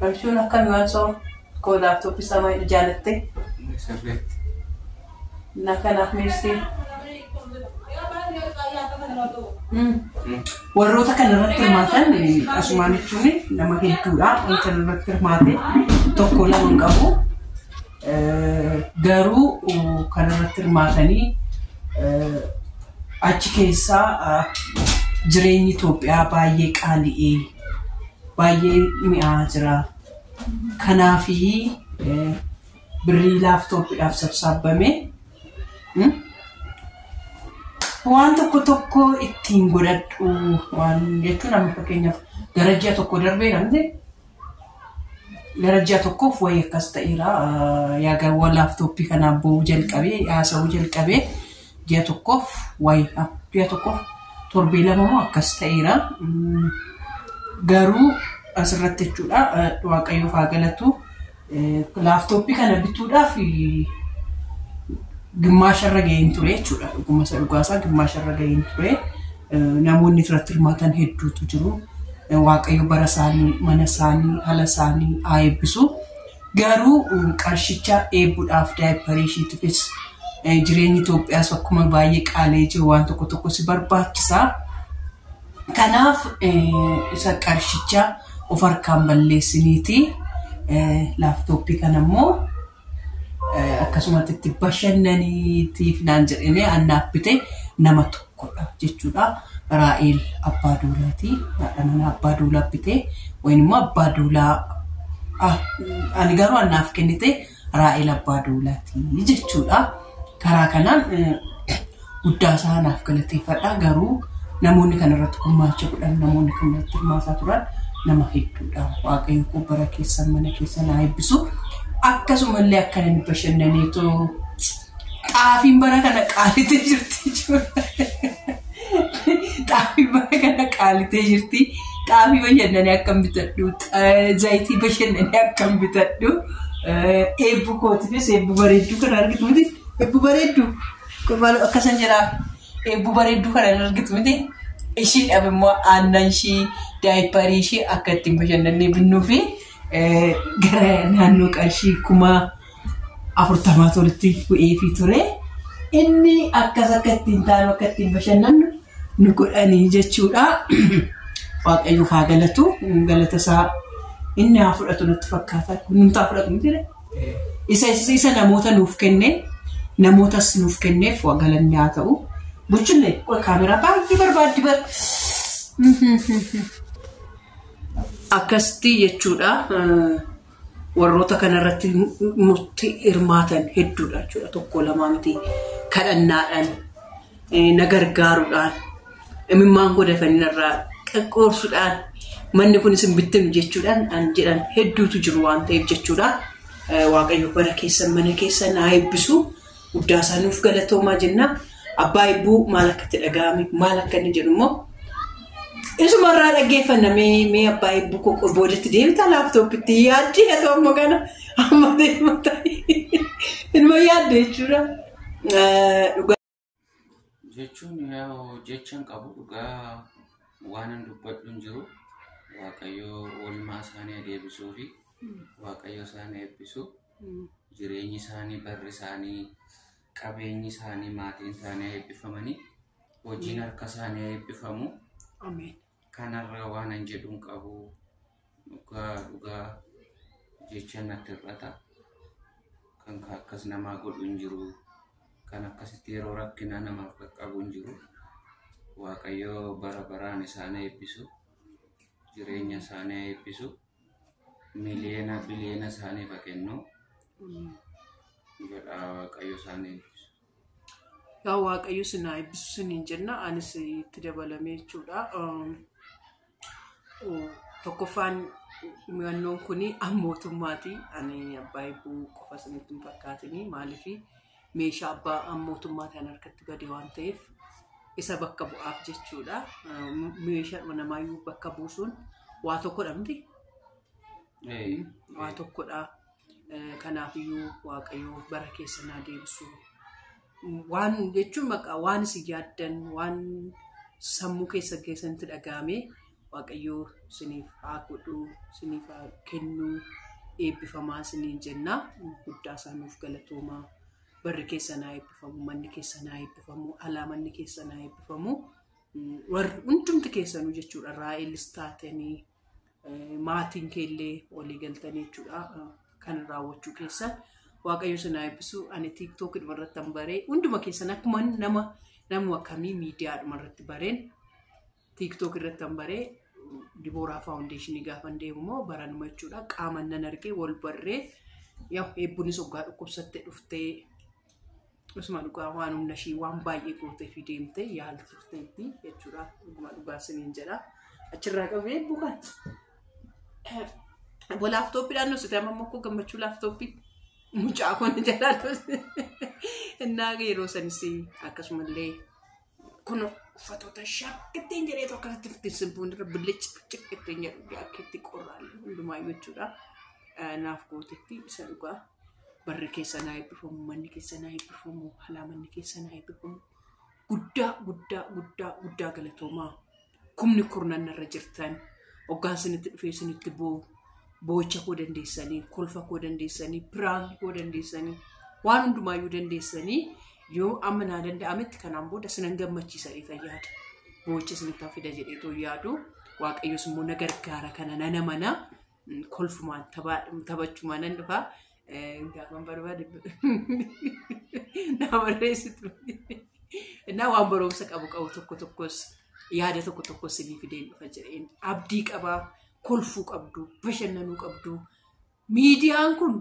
Barshuun akkami waan soo koo laaptooppii isaa maayii jaalatte na kanaaf meessii warroota kana irratti hirmaatan asumaan jechuun nama hedduudha wanta irratti hirmaate tokko lama hin qabu. Garuu kan irratti hirmaatanii achi keessaa jireenyi Itoophiyaa baay'ee qaali'ee baay'ee mi'aa jira. Kanaaf birrii laaftooppiidhaaf sabsaabbame waan tokko tokko ittiin godhadhu waan jechuun amma fakkeenyaaf gara ji'a tokko darbee dhabne Gara ji'a tokkoof wayii akkas ta'eera. Yaga laaptooppii kana abboo'uu jalqabee haasa'uu jalqabee ji'a tokkoof wayii ji'a tokkoof torbee lama moo akkas ta'eera. Garuu asirratti jechuudha Waaqayyoof haa galatu. Laaftoppii kana bituudhaaf gimmaasha irra ga'een ture jechuudha. Dhuguma isa dhugaasaa gimmaasha irra ga'een ture. Namoonni irratti hirmaatan hedduutu jiru. Waaqayyo bara isaanii, mana isaanii, haala isaanii haa eebbisu. Garuu qarshicha eebuudhaaf daayipparii ishiitifis jireenyi Itoophiyaas akkuma baay'ee qaalee jiru waan tokko tokko si barbaachisa. Kanaaf isa qarshicha of harkaan balleessiniiti laaptooppii kana immoo akkasumatti itti bashannaniitiif naan jedhanii annaaf bite nama tokkodha jechuudha. Raa'eel abbaa duulaati. Haadha manaa abbaa duulaa bite. Wayin immoo abbaa duulaa ah, ani garuu annaaf kennite Raa'el Abbaa Duulaati jechuudha. Karaa kanaan guddaa isaa naaf galateeffadha. Garuu namoonni kana irratti gumaacha godhan namoonni kan irratti hirmaataa turan nama hedduudha. Waaqayyo koo bara keessan mana keessan haa eebbisu. Akkasumallee akka inni bashannaneetoo Xaafiin bara kana qaalitee jirti Xaafiin bara kana qaalitee jirti. Xaafii bashannanee akkam bitadhu. Zayitii bashannanee akkam bitadhu. Eebbu kootiifis eebbu bareedduu kana argitu miti. Eebbu bareedduu. Maaloo akkasan jedhaa. Eebbu bareedduu kana hin argitu miti. Ishiidhaaf immoo aannan ishii daayiparii ishii akka ittiin bashannannee binnuu fi gara naannoo qarshii kumaa afurtamaatu walitti bu'eefii ture. Inni akkas akka ittiin taanu akka ittiin bashannannu nu godhanii jechuudha. Waaqayyoof haa galatu. Galata isaa inni haa fudhatu natti fakkaata. Hundumtaa fudhatu miti jedhe. Isa isa namoota nuuf kenne namootas nuuf kenneef waa galanni haa ta'u. Buchille qoy kaameraa baay'ee barbaaddi bar. Akkasitti jechuudha. Warroota kana irratti nutti hirmaatan hedduudha jechuudha. Tokko lamaa miti kadhannaadhaan na gargaaruudhaan imimmaan koo dafanii narraa qaqqoorsuudhaan manni kunis hin bittimu jechuudhaan an jedhan hedduutu jiru waan ta'eef jechuudha. Waaqayyo bara keessan mana keessan haa eebbisu. Guddaasaa nuuf galatoomaa jennaa. Abbaa Ibbuu maal akka itti dhaga'ame maal akka inni jedhu immoo isuma irraa dhaggeeffanna mee mee abbaa Ibbuu koo boodatti deebita laaptooppitti yaaddi haa ta'u amma kana amma deema ta'e inuma yaadde jechuudha. Eh, Dhugaa jechuun yaa jechan qabu dhugaa waanan dubbadhu hin jiru waaqayyo oolmaa isaanii adeebisuu fi waaqayyo isaan eebbisu Jireenyi isaanii, barri isaanii, qabeenyi isaanii, maatiin isaanii eebbifamanii hojiin harka isaanii eebbifamu. Ameen. Kanarraa waan an jedhu hin qabu. Dhugaa dhugaa jecha natti hir'ata. Kan ka- akkas namaa godhu hin jiru. Kan akkasitti yeroo rakkinaa namaaf qaqqabu hin jiru. Waaqayyo bara baraan isaan eebbisu. Jireenya isaanii eebbisu. miliyoona biliyoona isaaniif haa kennu jedha waaqayyo isaanii eebbisu. Yaa Waaqayyo isin haa eebbisu isiniin jenna. Anis itti dabalamee jechuudha. Um, oh, Tokkoffaan murannoon kun an mootummaati. Ani abbaa eebbuu qofa isinitti hin fakkaatini. Maaliif meeshaa abbaa mootummaatiin harkatti bade waan ta'eef isa bakka bu'aaf jechuudha. Meeshaadhuma namaayyuu bakka buusuun waa tokkodha miti. Waa tokkodha. Kanaafiyyuu waaqayyoo bara keessa naa deebisu. Waan jechuun maqaa waan isin yaaddan waan sammuu keessa keessanitti dhaga'amee Waaqayyoo siniif haa godhu, siniif haa kennu, eebbifamaa siniin jenna. Guddaa isaa nuuf galatooma. Barri keessan haa eebbifamu, manni keessan haa eebbifamu, alaa manni keessan haa eebbifamu. Mm, Warri hundumti keessanuu jechuudha. Raa'elis taatanii eh, maatiin keellee walii galtanii jechuudha. Eh, Kan raawwachuu keessan Waaqayyo sin haa eebbisu. Ani TikTok irratti baree hunduma keessan akkuma nama nama akkamii miidiyaa irratti bareen TikTok irratti an baree Dibooraa Faawundeeshinii gaafan deemu immoo baranuma jechuudha. Qaaman nan argee wal barree yaa eebbunis oggaa dhukkubsatte dhuftee Usuma dhugaa waan humna ishii waan baay'ee gootee fi deemtee yaalchifteetti jechuudha. Dhuguma dhugaa isiniin jedha. Achirraa qabee bukan. Obbo laaftooppiidhaan nuusite amma immoo koo gammachuu laaftooppi mucaa kun jalaa innaa yeroo sanis akkasumallee Kun uffatoota ishaa ittiin jedheetu akkasitti ittiin sibbuun irra billic billic ittiin jedhu akka itti qorraan hundumaayyuu jechuudha. Naaf gootetti isa dhugaa barri keessa naa eebbifamu manni keessa naa eebbifamu halaa manni keessa naa eebbifamu guddaa guddaa guddaa guddaa galatoomaa. kumni kurnan narra jirtan oggaan sinitti dhufee sinitti boo'u boo'icha koo dandeessanii kolfa koo dandeessanii piraanki koo dandeessanii waan hundumaayyuu dandeessanii yoo amma naa danda'ametti kanaan booda sinan gammachiisanii fayyaada boo'icha sinitti hafida jedhee too yaadu waaqayyos immoo na gargaara kana nana mana kolfumaan taphachumaan nan dhufa. Gaafan barbaade naa barreessitu. Innaa waan barumsa qabu qabu tokko tokkos yaada tokko tokkos sinii fideen dhufa jedheen abdii qabaa kolfuu qabdu bashannanuu qabdu miidiyaan kun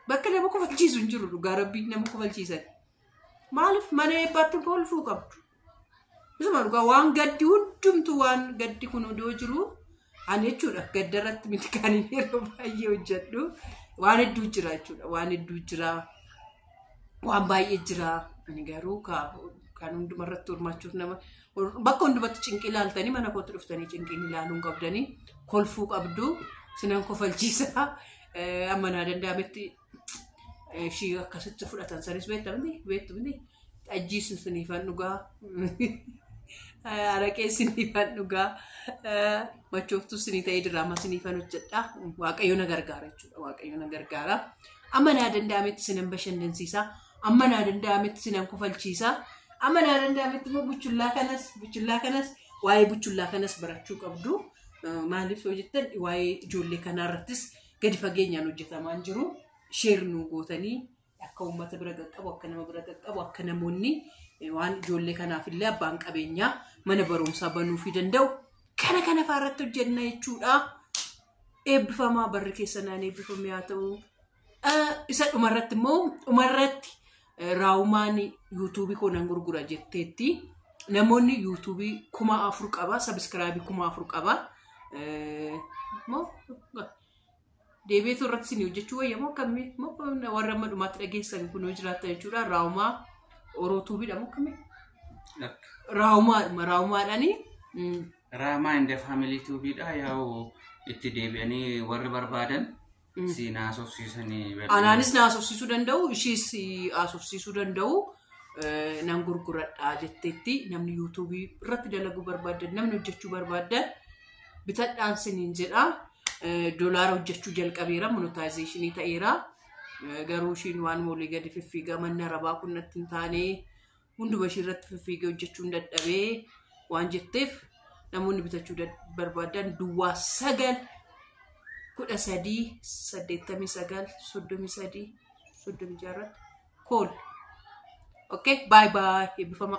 bakka nama kofalchiisu hin jiru dhugaa rabbii nama kofalchiisan maaliif mana eebbaatti kolfuu qabdu Isuma dhugaa waan gaddi hundumtu waan gaddi kun odoo jiru ani jechuudha gadda irratti miti kan ani yeroo baay'ee hojjedhu waan hedduu jira jechuudha waan hedduu jira waan baay'ee jira ani garuu ka- kan hunduma irratti hirmaachuuf nama bakka hundumatti cinqii ilaaltanii mana kootti dhuftanii cinqiin ilaaluun qabdanii kolfuu qabdu sinan kofalchiisa Eh, amma naa danda'ametti ishii akkasitti fudhatan sanis beekta miti beektu miti xajjii siniifan dhugaa araqee siniifan dhugaa machooftuu sinii ta'ee diraamaa siniifan hojjedha waaqayyo na gargaara jechuudha waaqayyo na gargaara amma naa danda'ametti sinan bashannansiisa amma naa danda'ametti sinan kufalchiisa amma naa danda'ametti immoo buchullaa kanas buchullaa kanas waa'ee buchullaa kanas barachuu qabdu maaliif yoo jettan waa'ee ijoollee kanaa irrattis gadi fageenyaan hojjetamaan jiru sheer nuu gootanii akka uummata bira qaqqabu akka nama bira qaqqabu akka namoonni waan ijoollee kanaaf illee abbaan qabeenyaa mana barumsaa banuufii danda'u kana kana fa'aa irratti hojjenna jechuudha. Eebbifamaa barri keessanaan eebbifame haa ta'u. Isa dhumarratti immoo dhumarratti Raawumaan yuutuubii koo nan gurgura jetteetti. Namoonni yuutuubii kuma afur qaba, sabiskiraabii kuma afur qaba. Deebiitu irratti isin hojjechuu wayya moo akkamii moo warra amma dhumaatti dhageessan kun yoo jiraatan jechuudha. Raawumaa orootuubiidha moo akkamii? Raawumaadhuma raawumaadhaani. Raamaa inda faamilii tuubiidha yaa'u itti deebi'anii warri barbaadan Si naasofsiisanii bal'inaan. Anaanis na haasofsiisuu danda'u, ishiis haasofsiisuu danda'u eh, nan gurguradha jetteetti namni yuutuubii irratti dalaguu barbaaddan namni hojjechuu barbaaddan bitadhaan siniin jedha. Eh, Dolaara hojjechuu jalqabeera, monetaayizeeshinii ta'eera. Eh, Garuu ishiin waan olii gadi fiffiigaa manni arabaa kun natti hin taane hunduma ishii irratti fiffiigee hojjechuun dadhabee waan jetteef namoonni bitachuu dad- barbaadan duwwaa sagal kudha sadii saddeettamii sagal soddomii sadii soddomii ja'a irratti kool. Okay, bye bye. Eebbifama.